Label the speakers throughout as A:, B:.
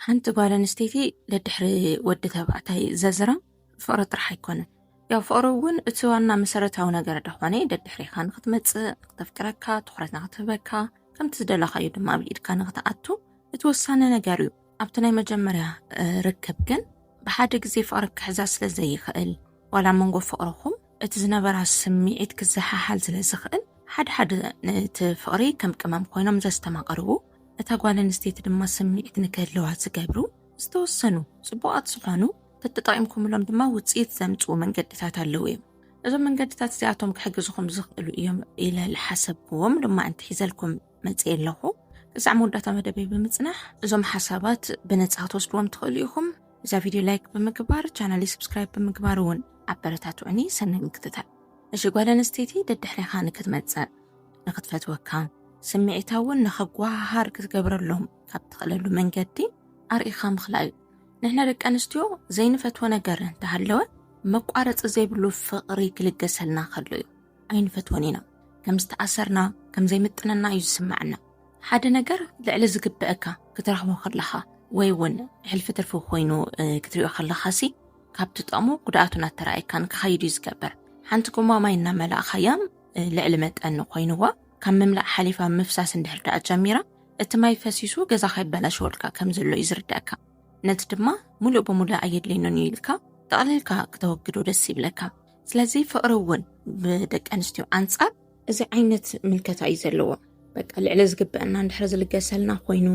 A: ሓንቲ ጓል ኣንስተይቲ ደድሕሪ ወዲ ተባዕታይ ዘዝራ ፍቕሪ ጥራሕ ኣይኮነን ያው ፍቕሪ እውን እቲ ዋና መሰረታዊ ነገር ደኾነ ደድሕሪኻ ንክትመፅእ ንክተፍቅረካ ትኩረት ንክትህበካ ከምቲ ዝደለኻዩ ድማ ኣብ ኢድካ ንክትኣቱ እቲ ወሳኒ ነገር እዩ ኣብቲ ናይ መጀመርያ ርክብ ግን ብሓደ ግዜ ፍቕሪ ክሕዛ ስለ ዘይኽእል ዋላ መንጎ ፍቕርኹም እቲ ዝነበራ ስምዒት ክዘሓሓል ስለ ዝኽእል ሓደ ሓደ ነቲ ፍቕሪ ከም ቅመም ኮይኖም ዘስተማቕርቡ እታ ጓል ኣንስተይቲ ድማ ስምዒት ንክህልዋ ዝገብሩ ዝተወሰኑ ጽቡቓት ዝኾኑ ተጠቂምኩምሎም ድማ ውጽኢት ዘምጽኡ መንገድታት ኣለዉ እዮም። እዞም መንገድታት እዚኣቶም ክሕግዝኹም ዝኽእሉ እዮም ኢለ ዝሓሰብክዎም ድማ እንትሒዘልኩም መጽእ ኣለኹ። ክሳዕ መወዳእታ መደበይ ብምጽናሕ እዞም ሓሳባት ብነጻ ክትወስድዎም ትኽእሉ ኢኹም። እዛ ቪድዮ ላይክ ብምግባር ቻናለይ ስብስክራይብ ብምግባር እውን ኣበረታትዑኒ። ሰናይ ምክትታል። እሺ ጓል ኣንስተይቲ ደድሕሬኻ ንክትመጽእ ንክትፈትወካ ስምዒታ እውን ንኸጓሃሃር ክትገብረሎም ካብ ትኽእለሉ መንገዲ ኣርኢኻ ምኽላእ እዩ ንሕና ደቂ ኣንስትዮ ዘይንፈትዎ ነገር እንተሃለወ መቋረፂ ዘይብሉ ፍቕሪ ክልገሰልና ከሎ እዩ ኣይንፈትዎን ኢና ከም ዝተኣሰርና ከም ዘይምጥነና እዩ ዝስምዐና ሓደ ነገር ልዕሊ ዝግበአካ ክትረኽቦ ከለኻ ወይ እውን ሕልፊ ትርፊ ኮይኑ ክትሪኦ ከለኻ ሲ ካብ ትጠቕሙ ጉድኣቱን ኣተራእካን ክኸይድ እዩ ዝገብር ሓንቲ ጎማ ማይ እናመላእኻያ ልዕሊ መጠን ኮይንዋ ካብ ምምላእ ሓሊፋ ምፍሳስ እንድሕር ደኣ ጀሚራ እቲ ማይ ፈሲሱ ገዛ ከይበላሸወልካ ከም ዘሎ እዩ ዝርዳእካ ነቲ ድማ ሙሉእ ብሙሉእ ኣየድልየንን እዩ ኢልካ ጠቕሊልካ ክተወግዶ ደስ ይብለካ ስለዚ ፍቕሪ እውን ብደቂ ኣንስትዮ ኣንጻር እዚ ዓይነት ምልከታ እዩ ዘለዎ በቃ ልዕሊ ዝግበአና እንድሕር ዝልገሰልና ኮይኑ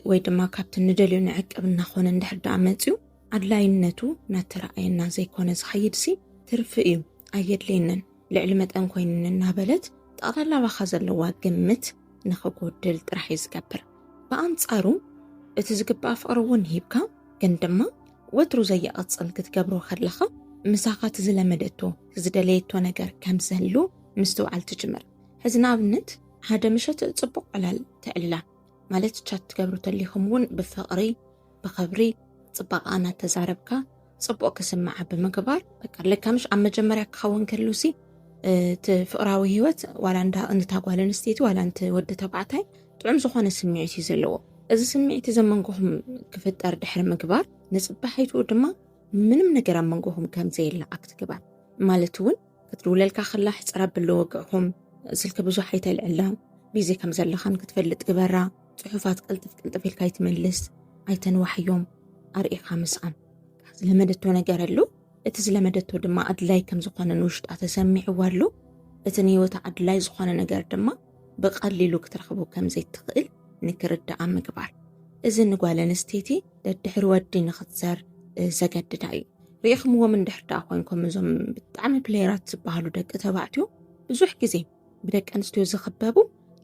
A: ወይ ድማ ካብቲ ንደልዮ ንዕቅብ እናኾነ እንድሕር ደኣ መፅዩ ኣድላይነቱ ናተረኣየና ዘይኮነ ዝኸይድ ሲ ትርፊ እዩ ኣየድልየንን ልዕሊ መጠን ኮይንን እናበለት ጠቕላላ ባኻ ዘለዋ ግምት ንኽጎድል ጥራሕ እዩ ዝገብር ብኣንጻሩ እቲ ዝግባእ ፍቕሪ እውን ሂብካ ግን ድማ ወትሩ ዘየቐጽን ክትገብሮ ከለኻ ምሳኻ እቲ ዝለመደቶ ዝደለየቶ ነገር ከም ዘሉ ምስትውዓል ትጅምር ሕዚ ንኣብነት ሓደ ምሸት ጽቡቕ ዕላል ተዕልላ ማለት ቻት ትገብሩ ተሊኹም እውን ብፍቕሪ ብኽብሪ ጽባቃ እናተዛረብካ ጽቡቅ ክስምዓ ብምግባር በቃ ልካ ምሽ ኣብ መጀመርያ ክኸውን ከሉ ሲ እቲ ፍቅራዊ ሂወት ዋላ እንዳ እንታ ጓል ኣንስተይቲ ዋላ እንቲ ወዲ ተባዕታይ ጥዑም ዝኾነ ስምዒት እዩ ዘለዎ እዚ ስምዒት እዚ መንጎኹም ክፍጠር ድሕሪ ምግባር ንጽባሒቱ ድማ ምንም ነገር ኣብ መንጎኹም ከምዘየለ ኣክትግባር ማለት እውን ክትድውለልካ ከላ ሕጽር ኣብሎ ወግዕኹም ስልኪ ብዙሕ ኣይተልዕላ ቢዚ ከም ዘለኻን ክትፈልጥ ግበራ ጽሑፋት ቅልጥፍ ቅልጥፍ ኢልካ ይትመልስ ኣይተንዋሕዮም ኣርኢኻ ምስኣን ዝለመደቶ ነገር ኣሉ እቲ ዝለመደቶ ድማ ኣድላይ ከም ዝኾነ ንውሽጣ ተሰሚዕዎ ኣሉ እቲ ንህይወታ ኣድላይ ዝኾነ ነገር ድማ ብቐሊሉ ክትረኽቦ ከም ዘይትኽእል ንክርድኣ ምግባር እዚ ንጓል ኣንስተይቲ ደድሕሪ ወዲ ንኽትዘር ዘገድዳ እዩ ርኢኽምዎም እንድሕር ደኣ ኮንኩም እዞም ብጣዕሚ ፕሌየራት ዝበሃሉ ደቂ ተባዕትዮ ብዙሕ ግዜ ብደቂ ኣንስትዮ ዝኽበቡ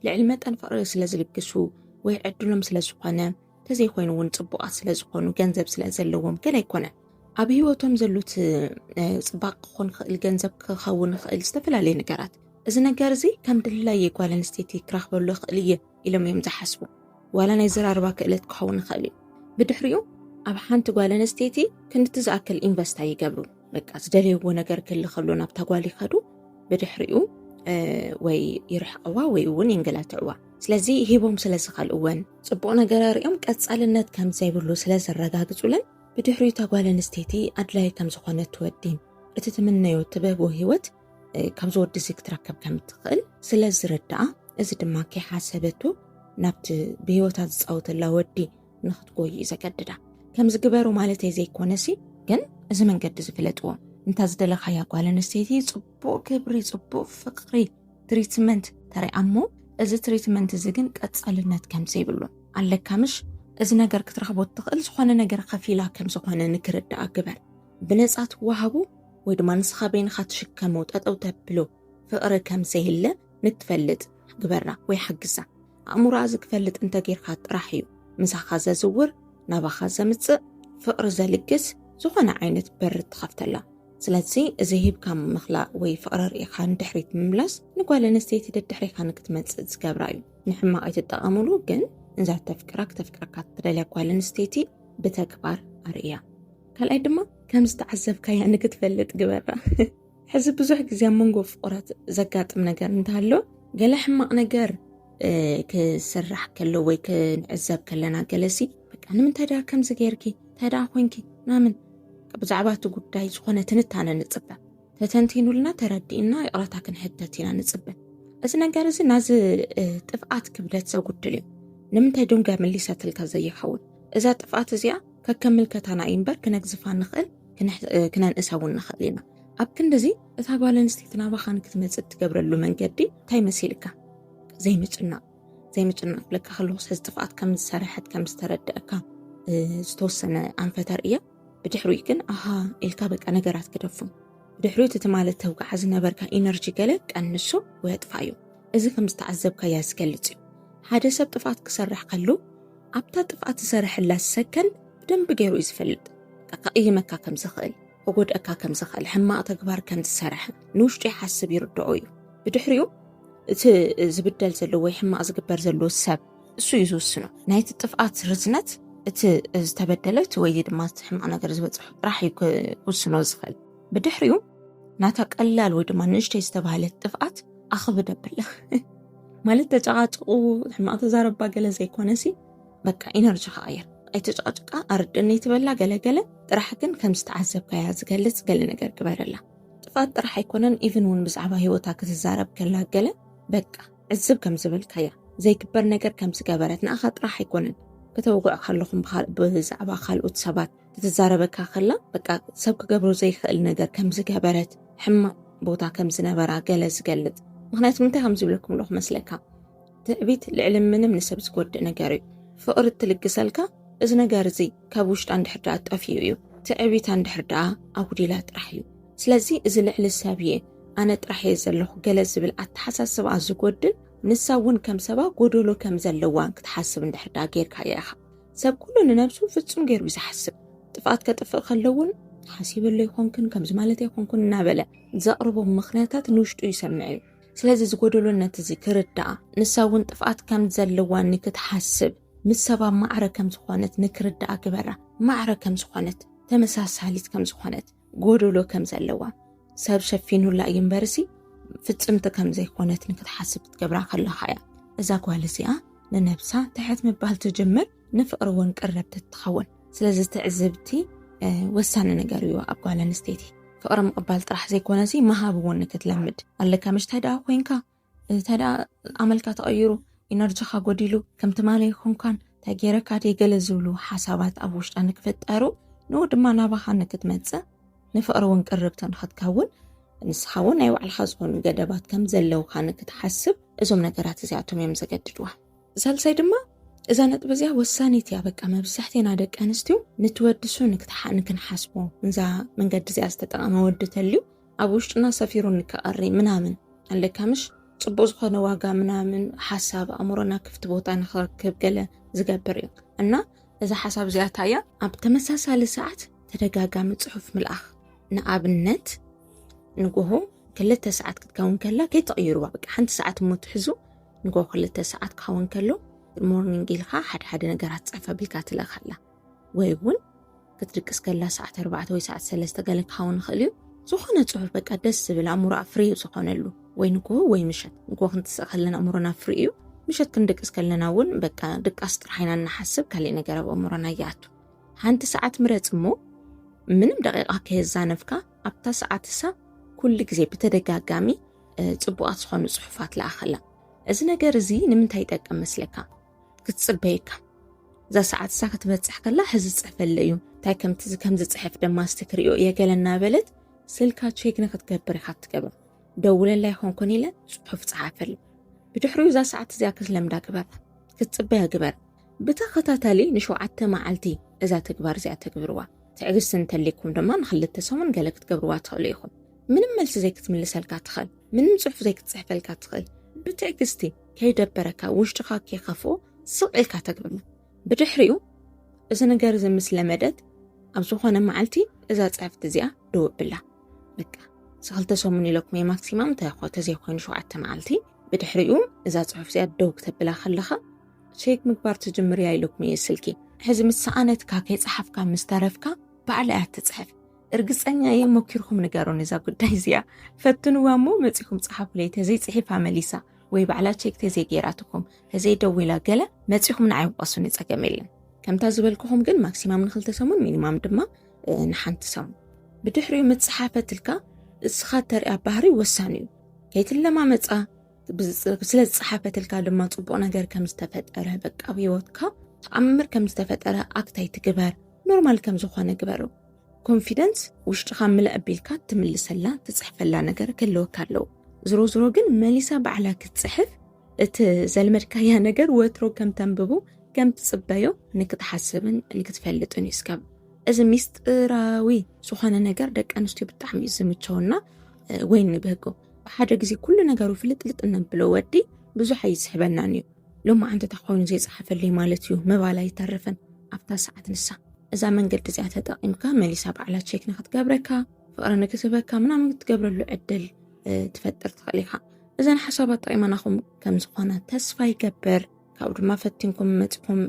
A: ልዕሊ መጠን ፍቕሪ ስለ ዝልግሱ ወይ ዕድሎም ስለ ዝኾነ ተዘይኮይኑ እውን ፅቡቓት ስለ ዝኾኑ ገንዘብ ስለ ዘለዎም ግን ኣይኮነን ኣብ ህይወቶም ዘሉት ፅባቅ ክኾን ይኽእል ገንዘብ ክኸውን ይኽእል ዝተፈላለዩ ነገራት እዚ ነገር እዚ ከም ድላይ የጓል ኣንስተይቲ ክረኽበሉ ይኽእል እየ ኢሎም እዮም ዝሓስቡ ዋላ ናይ ዘራርባ ክእለት ክኸውን ይኽእል እዩ ብድሕሪኡ ኣብ ሓንቲ ጓል ኣንስተይቲ ክንድቲ ዝኣክል ኢንቨስት ኣይገብሩ በቃ ዝደለይዎ ነገር ክሊ ከሎ ናብታ ጓል ይኸዱ ብድሕሪኡ ወይ ይርሕቀዋ ወይ እውን የንገላትዕዋ ስለዚ ሂቦም ስለ ዝኸልእወን ፅቡቅ ነገር ኣርእዮም ቀፃልነት ከም ዘይብሉ ስለ ዘረጋግፁለን ብድሕሪኡ እታ ጓል ኣንስተይቲ ኣድላይ ከም ዝኾነት ትወዲን እቲ ትምነዮ ትበቦ ሂወት ካብዚ ወዲ እዚ ክትረከብ ከም እትኽእል ስለ ዝርዳኣ እዚ ድማ ከይሓሰበቱ ናብቲ ብህይወታ ዝፃወተላ ወዲ ንክትጎይ እዩ ዘገድዳ ከምዚ ግበሩ ማለተይ ዘይኮነሲ ግን እዚ መንገዲ ዝፍለጥዎ እንታ ዝደለኻያ ጓል ኣንስተይቲ ጽቡቕ ክብሪ ጽቡቕ ፍቕሪ ትሪትመንት ተሪኣ እሞ እዚ ትሪትመንት እዚ ግን ቀጻልነት ከም ዘይብሉ ኣለካ ምሽ እዚ ነገር ክትረኽቦ እትኽእል ዝኾነ ነገር ከፊላ ከም ዝኾነ ንክርዳኣ ግበር ብነጻ ትወሃቡ ወይ ድማ ንስኻ በይንኻ ትሽከሞ ጠጠው ተብሎ ፍቕሪ ከም ዘይህለ ንትፈልጥ ግበራ ወይ ሓግዛ። ኣእምሮኣ ዝክፈልጥ እንተ ጌርካ ጥራሕ እዩ ምሳኻ ዘዝውር፣ ናባኻ ዘምጽእ፣ ፍቕሪ ዘልግስ፣ ዝኾነ ዓይነት በሪ ትኸፍተላ። ስለዚ እዚ ሂብካ ምኽላእ ወይ ፍቕሪ ርኢኻ ንድሕሪት ምምላስ ንጓል ኣንስተይቲ ደድሕሪኻ ንክትመጽእ ዝገብራ እዩ። ንሕማቕ ኣይትጠቐምሉ ግን እዛ ተፍቅራ ክተፍቅረካ ትደልያ ጓል ኣንስተይቲ ብተግባር ኣርእያ። ካልኣይ ድማ ከም ዝተዓዘብካያ ንክትፈልጥ ግበራ። ሕዚ ብዙሕ ግዜ ኣብ መንጎ ፍቑራት ዘጋጥም ነገር እንተሃሎ ገለ ሕማቕ ነገር ክስራሕ ከሎ ወይ ክንዕዘብ ከለና ገለሲ በቃ ንምንታይ ደኣ ከምዚ ገይርኪ እንታይ ደኣ ኮንኪ ምናምን ብዛዕባ እቲ ጉዳይ ዝኾነ ትንታነ ንፅበ ተተንቲኑልና ተረዲእና ይቕረታ ክንሕተት ኢና ንፅበ እዚ ነገር እዚ ናዚ ጥፍኣት ክብደት ዘጉድል እዩ ንምንታይ ዶንጋ መሊሰትልካ ዘይኸውን እዛ ጥፍኣት እዚኣ ከከምልከታና እዩ እምበር ክነግዝፋ ንኽእል ክነንእሳ እውን ንኽእል ኢና። ኣብ ክንድዚ እታ ጓል ኣንስተይቲ ናባኻ ንክትመፅእ እትገብረሉ መንገዲ እንታይ መሲልካ? ዘይምጭናቕ ዘይምጭናቕ ክብለካ ከለኹስ ሕዚ ጥፍኣት ከም ዝሰረሐት ከም ዝተረደአካ ዝተወሰነ ኣንፈት ኣርእያ ብድሕሪኡ ግን ኣሃ ኢልካ በቃ ነገራት ክደፉ ብድሕሪኡ እቲ ትማሊ ተውግዓ ዝነበርካ ኢነርጂ ገለ ቀንሶ ወይ ኣጥፋእዮ እዚ ከም ዝተዓዘብካያ ዝገልጽ እዩ። ሓደ ሰብ ጥፍኣት ክሰርሕ ከሎ ኣብታ ጥፍኣት ዝሰርሐላ ሰከን ብደንቢ ገይሩ እዩ ዝፈልጥ። ከቕይመካ ከም ዝኽእል፣ ክጎድኣካ ከም ዝኽእል፣ ሕማቕ ተግባር ከም ዝሰርሐ ንውሽጡ ይሓስብ ይርድኦ እዩ። ብድሕሪኡ እቲ ዝብደል ዘሎ ወይ ሕማቕ ዝግበር ዘሎ ሰብ እሱ እዩ ዝውስኖ ናይቲ ጥፍኣት ርዝነት እቲ ዝተበደለ እቲ ወይ ድማ እቲ ሕማቕ ነገር ዝበፅሑ ጥራሕ እዩ ክውስኖ ዝኽእል ብድሕሪኡ ናታ ቀላል ወይ ድማ ንእሽተይ ዝተባህለት ጥፍኣት ኣኽብድ ኣብላ ማለት ተጨቓጭቑ ሕማቕ ተዛረባ ገለ ዘይኮነሲ በቃ ኢነርጂ ክቐየር ኣይተጨቓጭቃ ኣርድነይ ትበላ ገለገለ ጥራሕ ግን ከም ዝተዓዘብካያ ዝገልጽ ገለ ነገር ግበረላ ጥፋት ጥራሕ ኣይኮነን ኢቭን እውን ብዛዕባ ሂወታ ክትዛረብ ከላ ገለ በቃ ዕዝብ ከም ዝበልካያ ዘይግበር ነገር ከም ዝገበረት ንኣኻ ጥራሕ ኣይኮነን ከተውቕዕ ከለኹም ብዛዕባ ካልኦት ሰባት ክትዛረበካ ከላ በቃ ሰብ ክገብሮ ዘይክእል ነገር ከም ዝገበረት ሕማቕ ቦታ ከም ዝነበራ ገለ ዝገልጽ ምክንያቱ ምንታይ ከም ዝብለኩም ኣለኹ መስለካ ትዕቢት ልዕሊ ምንም ንሰብ ዝጎድእ ነገር እዩ ፍቕሪ እትልግሰልካ እዚ ነገር እዚ ካብ ውሽጣ እንድሕር ድኣ ጠፍኡ እዩ ትዕቢታ እንድሕር ድኣ ኣጉዲላ ጥራሕ እዩ ስለዚ እዚ ልዕሊ ሰብ እየ ኣነ ጥራሕ እየ ዘለኹ ገለ ዝብል ኣተሓሳስባ ዝጎድል ንሳ እውን ከም ሰባ ጎደሎ ከም ዘለዋ ክትሓስብ እንድሕር ድኣ ጌርካ እያ ኢኻ ሰብ ኩሉ ንነብሱ ፍጹም ገይሩ እዩ ዝሓስብ ጥፍኣት ከጥፍእ ከሎ እውን ሓሲበሉ ኣይኮንክን ከምዚ ማለት ኣይኮንኩን እናበለ ዘቕርቦም ምኽንያታት ንውሽጡ ይሰምዕ እዩ ስለዚ ዝጎደሎነት እዚ ክርዳኣ ንሳ እውን ጥፍኣት ከም ዘለዋ ንክትሓስብ ምስ ሰባ ማዕረ ከም ዝኾነት ንክርዳኣ ግበራ ማዕረ ከም ዝኾነት ተመሳሳሊት ከም ዝኾነት ጎደሎ ከም ዘለዋ ሰብ ሸፊኑላ እዩ እምበርሲ ፍፅምቲ ከም ዘይኮነት ንክትሓስብ ክትገብራ ከለካ እያ እዛ ጓል እዚኣ ንነብሳ ትሕት ምባል ትጅምር ንፍቅሪ እውን ቅረብቲ ትኸውን ስለዚ ትዕዝብቲ ወሳኒ ነገር እዩ ኣብ ጓል ኣንስተይቲ ፍቅሪ ምቕባል ጥራሕ ዘይኮነሲ መሃብ እውን ንክትለምድ ኣለካ ምሽታይ ደኣ ኮንካ እንተደኣ ኣመልካ ተቐይሩ ኢነርጂኻ ጎዲሉ ከም ትማሊ ኣይኮንካን እንታይ ገይረካ ድየ ገለ ዝብሉ ሓሳባት ኣብ ውሽጣ ንክፍጠሩ ንኡ ድማ ናባኻ ንክትመፅእ ንፍቕሪ እውን ቅርብቲ ንክትከውን ንስኻ እውን ናይ ባዕልኻ ዝኾኑ ገደባት ከም ዘለውካ ንክትሓስብ እዞም ነገራት እዚኣቶም እዮም ዘገድድዋ ሳልሳይ ድማ እዛ ነጥቢ እዚኣ ወሳኒት እያ በቃ መብዛሕትና ደቂ ኣንስትዮ ንትወድሱ ንክንሓስቦ እዛ መንገዲ እዚኣ ዝተጠቐመ ወዲ ተልዩ ኣብ ውሽጥና ሰፊሩ እንከቐሪ ምናምን ኣለካ ምሽ ፅቡቅ ዝኾነ ዋጋ ምናምን ሓሳብ ኣእምሮና ክፍቲ ቦታ ንክረክብ ገለ ዝገብር እዩ እና እዛ ሓሳብ እዚኣታ እያ ኣብ ተመሳሳሊ ሰዓት ተደጋጋሚ ፅሑፍ ምልኣኽ ንኣብነት ንጎሆ ክልተ ሰዓት ክትከውን ከላ ከይተቕይሩዋ በቃ ሓንቲ ሰዓት እሞ ትሕዙ ንጎሆ ክልተ ሰዓት ክኸውን ከሎ ሞርኒንግ ኢልካ ሓደ ሓደ ነገራት ፀፈ ብልካ ትለኻላ ወይ እውን ክትድቅስ ከላ ሰዓት ኣርባዕተ ወይ ሰዓት ሰለስተ ገለ ክኸውን ይኽእል እዩ ዝኾነ ጽሑፍ በቃ ደስ ዝብል ኣእምሮኣ ፍሪ ዝኾነሉ ወይ ንግሆ ወይ ምሸት ንግሆ ክንትስእ ከለና ኣእምሮና ፍሪ እዩ ምሸት ክንድቅስ ከለና እውን በቃ ድቃስ ጥራሕ ኢና እናሓስብ ካሊእ ነገር ኣብ ኣእምሮና ይኣቱ ሓንቲ ሰዓት ምረጽ እሞ ምንም ደቂቓ ከየዛነፍካ ኣብታ ሰዓት እሳ ኩሉ ግዜ ብተደጋጋሚ ጽቡቓት ዝኾኑ ጽሑፋት ለኣኸላ እዚ ነገር እዚ ንምንታይ ይጠቅም መስለካ ክትፅበየካ እዛ ሰዓት እሳ ክትበፅሕ ከላ ሕዚ ዝፅሕፈለ እዩ እንታይ ከምቲ ከም ዝፅሕፍ ድማ እስቲ ክሪኦ እየ ገለ እናበለት ስልካ ቼክ ንክትገብር ኢካ ትገብር ደውለላ ይኮን ኮን ኢለ ፅሑፍ ፀሓፈሉ ብድሕሪኡ እዛ ሰዓት እዚኣ ክትለምዳ ግበር ክትፅበያ ግበር ብተኸታታሊ ንሸውዓተ መዓልቲ እዛ ተግባር እዚኣ ተግብርዋ ትዕግስቲ እንተልይኩም ድማ ንክልተ ሰሙን ገለ ክትገብርዋ ትኽእሉ ኢኹም ምንም መልሲ ዘይክትምልሰልካ ትኽእል ምንም ፅሑፍ ዘይክትፅሕፈልካ ትኽእል ብትዕግስቲ ከይደበረካ ውሽጥኻ ከይከፍኦ ስቕ ኢልካ ተግብማ ብድሕሪኡ እዚ ነገር እዚ ምስ ለመደት ኣብ ዝኾነ መዓልቲ እዛ ፅሕፍቲ እዚኣ ደወብላ በቃ ሰክልተ ሰሙን ኢለኩም እየ ማክሲማም እንታይ ኮ ተዘይኮይኑ ሸውዓተ መዓልቲ ብድሕሪኡ እዛ ፅሑፍ እዚኣ ደው ክተብላ ከለኻ ሸይክ ምግባር ትጅምር እያ ኢለኩም እየ ስልኪ ሕዚ ምስ ሰኣነትካ ከይፀሓፍካ ምስ ተረፍካ ባዕላ እያ ትፅሕፍ እርግፀኛ እየ ሞኪርኩም ንገሩን እዛ ጉዳይ እዚኣ ፈትንዋ እሞ መፂኹም ፀሓፉለይ ተዘይፅሒፋ መሊሳ ወይ ባዕላ ቼክ ተዘይ ገይራትኩም ተዘይ ደዊላ ገለ መጺኹም ንዓይ ውቀሱኒ ጸገም የለን ከምታ ዝበልኩኹም ግን ማክሲማም ንክልተ ሰሙን ሚኒማም ድማ ንሓንቲ ሰሙን ብድሕሪኡ ምጽሓፈትልካ እስኻ ተሪያ ባህሪ ወሳኒ እዩ ከይትለማመጻ ስለ ዝጸሓፈትልካ ድማ ጽቡቅ ነገር ከም ዝተፈጠረ በቃ ኣብ ህይወትካ ተኣምር ከም ዝተፈጠረ ኣክታይ ትግበር ኖርማል ከም ዝኾነ ግበሩ ኮንፊደንስ ውሽጥኻ ምልእ ኣቢልካ ትምልሰላ ትጽሕፈላ ነገር ክህልወካ ኣለዎ ዝሮ ዝሮ ግን መሊሳ ባዕላ ክትጽሕፍ እቲ ዘልመድካያ ነገር ወትሮ ከም ተንብቡ ከም ትጽበዮ ንክትሓስብን ንክትፈልጥን እዩ ስከብ እዚ ሚስጢራዊ ዝኾነ ነገር ደቂ ኣንስትዮ ብጣዕሚ እዩ ዝምቸውና ወይ ንብህጎ ብሓደ ግዜ ኩሉ ነገሩ ፍልጥልጥ እነብሎ ወዲ ብዙሕ ኣይስሕበናን እዩ ሎማዓንቲ እንተ ኾይኑ ዘይጸሓፈልይ ማለት እዩ ምባል ኣይተርፍን ኣብታ ሰዓት ንሳ እዛ መንገዲ እዚኣ ተጠቒምካ መሊሳ ባዕላ ቼክ ንክትገብረካ ፍቕሪ ንክትህበካ ምናምን ክትገብረሉ ዕድል ትፈጥር ትኽእል ኢኻ እዘን ሓሳባት ጠቒመናኹም ከም ዝኾነ ተስፋ ይገብር ካብኡ ድማ ፈቲንኩም መፅኩም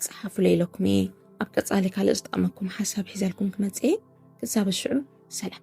A: ፀሓፉለ ኢለኩም እየ ኣብ ቀፃሊ ካልእ ዝጠቕመኩም ሓሳብ ሒዘልኩም ክመፅእ እየ ክሳብ ሽዑ ሰላም